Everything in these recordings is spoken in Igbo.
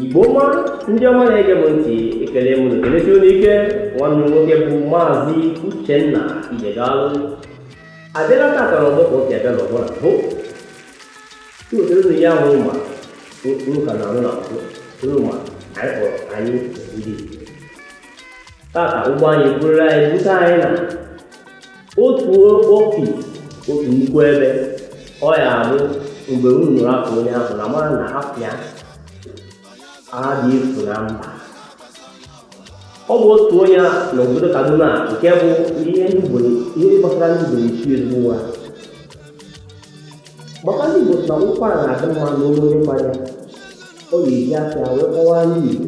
Igbo ọma ndị ọma na-ege m ntị ekele m na-ekelesi unu ike nwanne nwoke bụ maazị Uchenna Ijegalụ abịala tata n'ọgbọ ka oke abịa n'ọgbọ na mbụ iwetara unu ya ahụ ma unu ka na-anụ na mbụ unu ma anyị kpọrọ anyị ndị Igbo tata ụgbọ anyị buuru anyị bute anyị na otu ofi otu nnukwu ebe ọ ya-abụ mgbe unu nụrụ afa onye ahụ unu amara na afa adịghị efu na mba ọ bụ otu onye na obodo kaduna nke bụ ihe ndị Igbo ihe ndị gbasara ndị Igbo na-esi ezigbo ụra gbakwa ndị Igbo sị na ụkwara na-adị mma n'olu onye mmanya ọ ga-eji afịa wee kọwaa ndị Igbo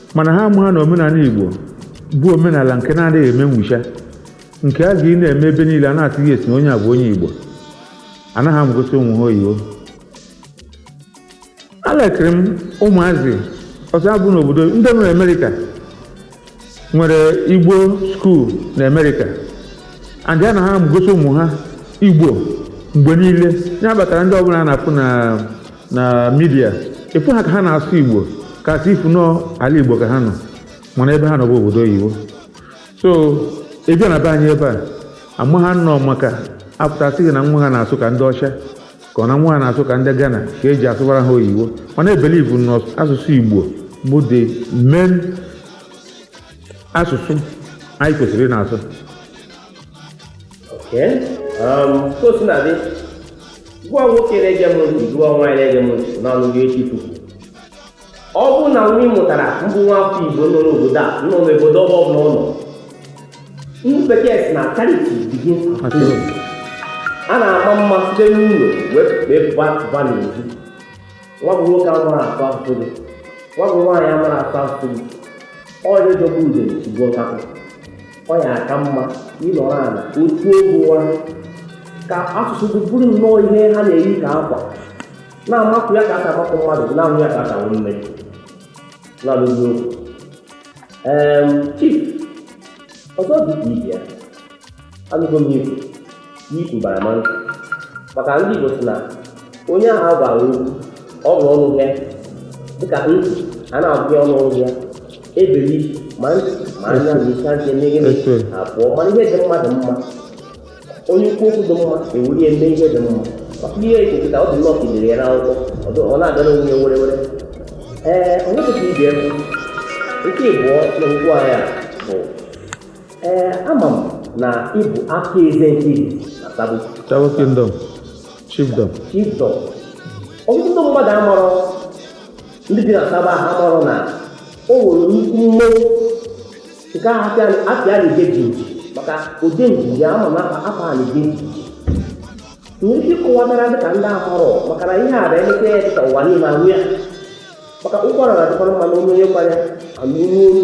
mana ha amaghị na omenala Igbo bụ omenala nke na-adịghị eme nwụcha nke a ga-ị na-eme ebe niile a na-atụghị esi na onye a bụ onye Igbo anaghị amụgosi ụmụ ha oyibo elekiri m ụmụazị ọzọ abụ n'obodo ndị nọ n'Amerika nwere Igbo skuul na Amerịka and a na ha amụgosi ụmụ ha Igbo mgbe niile ya kpatara ndị ọbụla a na-afụ na na midia ị fụ ha ka ha na-asụ igbo ka a sị ị fụ na ọ ala igbo ka ha nọ mana ebe ha nọ bụ obodo oyibo so ị bịa na be anyị ebe a ama ha nọ maka apụta sị gị na nwa ha na-asụ ka ndị ọcha ka ọ na nwa ha na-asụ ka ndị Ghana ka e ji asụbara ha oyibo mana I believe na asụsụ igbo bụ the main asụsụ anyị kwesịrị ịna-asụ Um, ka o sina dị gị wụ nwoke na-ege m ntị gị wụ nwaanyị na-ege m ntị n'ọnụ gị echi tupu ọ bụrụ na nwa ị mụtara mbụ nwa afọ igbo nọ n'obodo a nọ n'obodo ọbọ ọbụla ụmụ ndị bekee sị na charity begins at home a na-ama mma site n'ụlọ wee pụba pụba n'ezi nwa bụ nwoke amarọ asụ asụsụ gị nwa bụ nwaanyị amarọ asụ asụsụ gị ọ dị jọgbu udele sigbuo nkakwụ ọ ya-aka mma ịnọrọ ala otu egwu ụra ka asụsụ gị bụrụ nnọọ ihe ha na-eyi ka akwa na-amakụ ya ka a ga-amakụ mmadụ na-ahụ ya ka a ga-ahụ nne na-alụzi okwu ee chief ọzọ dị ka ibi ya anụgo m ikwu n'iku bara ma nkụ maka ndị Igbo sị na onye ahụ agwa okwu ọ bụ ọnụ ya dịka ntị a na-agụ ya ọnụ ọnụ ya e beli ma ntị ma anya na isi anya mmeghe abụọ mana ihe dị mma dị mma onye kwuo okwu dị mma e welu ya mee ihe dị mma maka ihe ekeketa ọ dị nnọọ ka e dere ya n'akwụkwọ ọ na-agara onwe ya were were ee onye kwesịrị ibi ebe nke ịbụọ na okwu anyị a bụ Ee, ama m na ị bụ aka eze nke izizi na Sabo. Tawo Kingdom, Chiefdom. Chiefdom. Ọtụtụ ndị mmadụ amarọ ndị bi na Sabo ahụ amarọ na o nwere nnukwu mmọnwụ nke ahụ apịa apịa na-ege jinji maka ụdị njinji ama m na akwa a na-ege jinji. Nwere ike ịkọwatara dịka ndị amarọ maka na ihe a bụ emete ya dịka ụwa niile aṅụ ya maka ụkwara na-adịkwara mma n'olu onye kwara anụ olu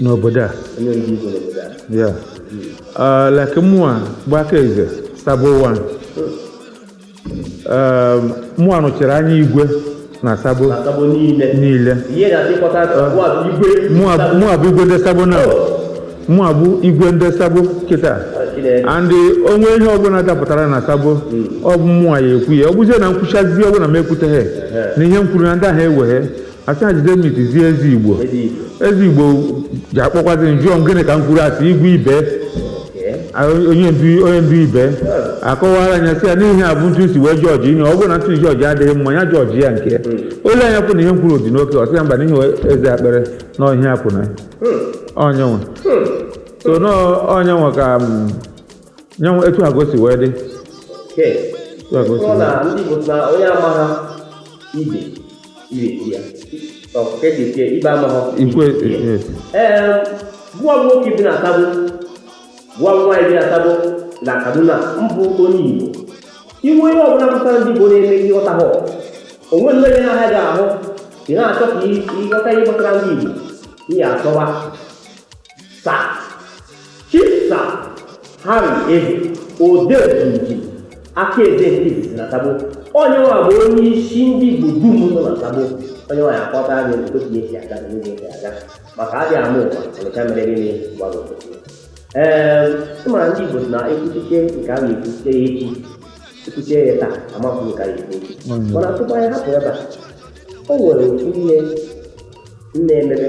n'obodo a onye ndu igwe n'obodo a ya Ah, like mụa bụ aka eze sabo one mụa nọchiri anya igwe na sabo asabo niile niile ihe na-adịkọta abụọ bụ igwe mụa mụa bụ igwe ndị sabo na mụa bụ igwe ndị sabo kịta Chineke. and o nwee ihe ọbụla dapụtara na sabo ọ bụ mụa ya ekwu ya ọ bụzie na m kwuchazi ọ bụrụ na m ekwuteghị na ihe m kwuru na ndị ahụ eweghị asị ha jide mit zie eze igbo eze igbo ji akpọkwazi m jụọ m gịnị ka m kwuru asị igwe ibe A- onye ndu onye ndu ibe akọwara anya sị ya na ihe a bụ etu m si wee judge ihe ọ bụrụ na etu m judge adịghị mma ya judge ya nke ya o lee anya hụ na ihe m kwuru dị okay ọ sị ya mba n'ihi eze akpere na ọhịa akwụ na ya onye nwe so na onye nwe ka m, nye nwe etu agosi wee dị etu agosi wee dị. ndị Igbo na onye amaghị ibe gwa nwoke bi na Sabo gwa nwaanyị bi na Sabo na Kaduna mbụ onye Igbo inwe onye ọbụla batara ndị Igbo na-eme ihe ọta ha o nwee nke na-ahịa gị ahụ ị na-achọ ka ịghọta ihe gbasara ndị Igbo ị ya achọwa sir chisa harry ehe odeji aka eze nke izizi na sabo onye nwa bụ onye isi ndị igbo dum nọ na sabo onye nwa ya akọta anyị otu ka esi aga na oge esi aga maka adị ama ama ọnịcha mere gịnị gwara obosi ee ịmara ndị igbo na ekwuchiche nke a na-ekwuchite ya echi ekwuchie ya taa amakwụ nke a na-ekwu echi mana tupu anyị hapụ ebe a o nwere otu ihe m na-emebe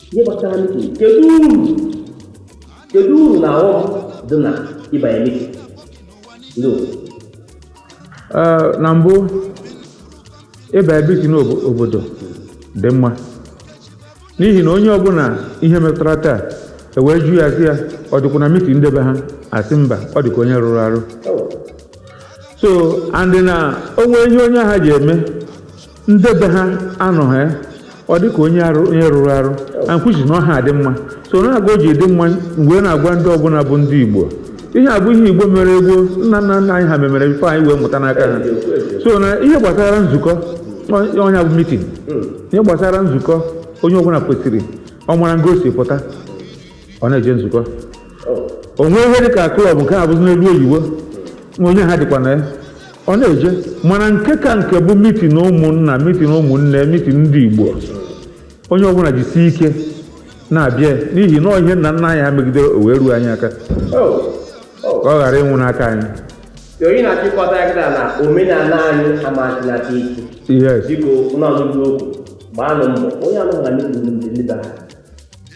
ihe gbasara mitin kedu uru kedu uru na ọghọm dị na ịbanye mitin ndị obodo Ee, na mbụ ịba na mitin obodo dị mma n'ihi na onye ọbụla ihe metụtara taa ewee jụọ ya sị ya ọ dịkwa na mitin ndị be ha asị mba ọ dịka onye rụrụ arụ so andị na o nwe ihe onye ahụ ya eme ndị be ha anọghị ya ọ dị ka onye arụ onye rụrụ arụ ankwuchi na ọha adị mma so nya ka o ji dị mma m wee na-agwa ndị ọbụla bụ ndị igbo ihe a bụ ihe igbo mere gboo nna nna nna anyị ha memere before anyị wee mụta n'aka ha so na ihe gbasara nzukọ ọ- nya bụ meeting ihe gbasara nzukọ onye ọbụla kwesịrị ọ mara nga o si pụta ọ na-eje nzukọ o nwee ihe dịka club nke a bụzi n'elu oyibo na onye ha dịkwa na ya ọ na-eje mana nke ka nke bụ meeting ụmụnna meeting ụmụnne meeting ndị igbo onye ọbụla jisie ike na-abịa n'ihi na ihe nna nna anyị ha megide o wee ruo anyị aka ka ọ ghara ịnwụ n'aka anyị onye na-achịkọta ya kịta na omenala anyị amasịnata ike yes biko ụnụ asụzi okwu gbaanụ mbọ onye anụghị na ndị ndị ndị bara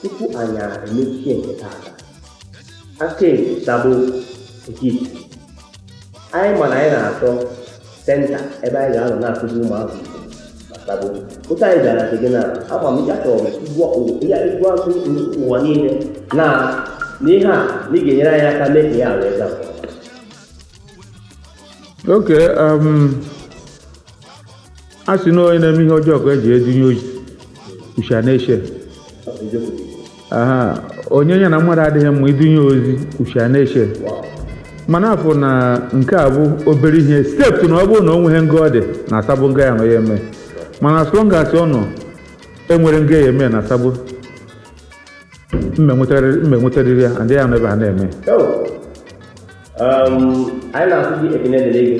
tupu anyị emechie nke taata aka etabụ nke isi anyị ma na anyị na-achọ centre ebe anyị ga-anọ na-akụzi ụmụazụ tabo ụta anyị gara nke gị na agba m ya chọrọ ịgwazi ụwa niile na n'ihe a na ị ga-enyere anyị aka mee ka ya wee gaa Okay, um, a sị na onye na-eme ihe ọjọọ ka e ji edunye ozi usha na-eche aha onye ya na mmadụ adịghị mma idunye ozi usha na-eche mana afọ na nke a bụ obere ihe step na ọ bụrụ na o nweghị nga ọ dị na asabụ nga ya nọ ya eme mana as long as ọ nọ enwere nga ya eme na asabụ m enwetarịrị ya ndị ya nọ ebe ha na-eme anyị na-asị gị ekene dịrị gị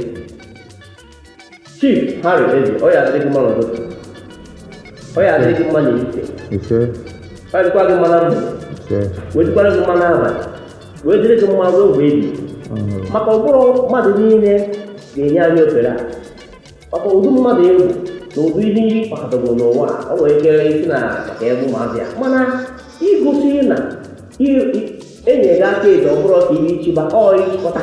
Chief Harry Eze, ọ ya adị gị mma n'ụtụtụ. Ọ ya adị gị mma n'ehihie. ise Ọ dịkwa gị mma na mgbede. ise Wee dịkwara gị mma n'abalị. Wee dịrị gị mma ruo mgbe ebighị. ọhụrụ Maka ọ bụrọ mmadụ niile ga-enye anyị ofere a. Maka ụdị mmadụ ị bụ na ụdị ihe ị kpakọtago n'ụwa a, ọ nwere ike ịsị na maka ebe ụmụazị ya. Mana igosi na i- i- enyere gị aka eji ọ bụrụ ka ihe ichiba ọ ịchịkọta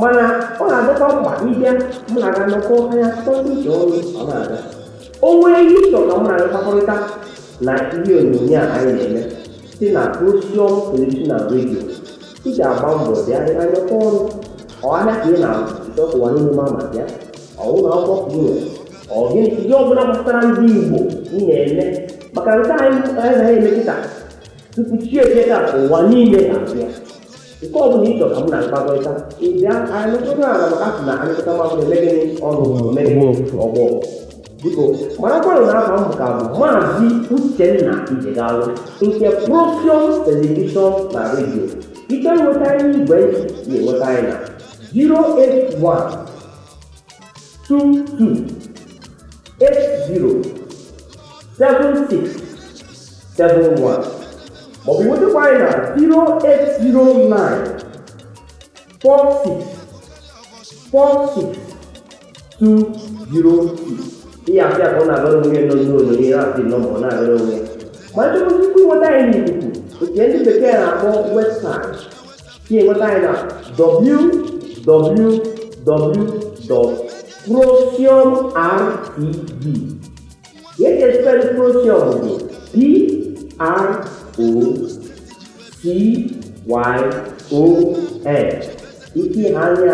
mana ọ na-adịkwa mkpa ịbịa mụ na gị anọkọ anya sọsọ ije ọnụ ọ na-aga o nwere ihe ị chọ ka mụ na gị kpakọrịta na ihe onyonyo a anyị na-eme si na Osiom television na radio ị ga-agba mbọ bịa anyị anọkọ ọnụ ọ ahịa ka ị na-achọ ụwa niile ma maka ya ọ ụlọ akwụkwọ ka ị nwere ọ gịnị ihe ọbụla gbasara ndị Igbo ị na-eme maka nke anyị anyị na-eme kịta tupu chi ejie ka ụwa niile ga-abịa nke ọ bụla ịchọ ka m na-akpakọrịta ịbịa anyị nụtụrụ ala maka sị na anyị kọta mmadụ na-eme gịnị ọrụ eme gịnị ọgbọ biko marakwanụ na aha m ka bụ maazị uchenna ijegalụ nke procyon telivishọn na redio ị ga-enweta anyị n'igwe ntị nweta anyị na 081 22 80 76 71 maọbụ nwetakwa anyị na 0809 46 46 206 ihe asị a ka ọ na-agara onwe ya nọ n'ụlọ ihe na-asị nọ ma ọ na-agara onwe ya ma nchọpụta ị ga-enweta anyị n'ikuku nke ndị bekee na-akpọ webụsaịtị ị ga-enweta anyị na www.procyonrtv Ihe ka espelụ Procyon bụ P-R-O-C-Y-O-N. Ị ga-ahụ anyị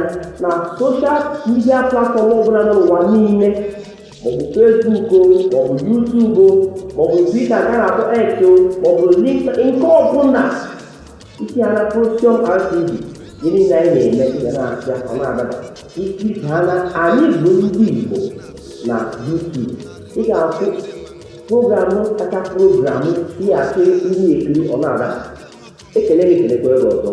na soshal midia platfọm ọbụla nọ n'ụwa niile maọbụ Facebook o, maọbụ YouTube o, maọbụ Twitter nke a na-akpọ X o, maọbụ LinkedIn nke ọbụla Isi ala Procyon RTV ihe niile anyị na-eme ga na-asịa ọ na-adaba isi ha na anyị bụ ndị Igbo na YouTube ị ga-ahụ programụ kacha programụ ihe asị ndị ekiri ọ na-adaba ekele gị kelekwa gị ọzọ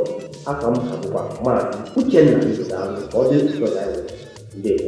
afa m bụkwa maazị Uchenna Igbo daalụ ka ọ dị nsọ ya ndewo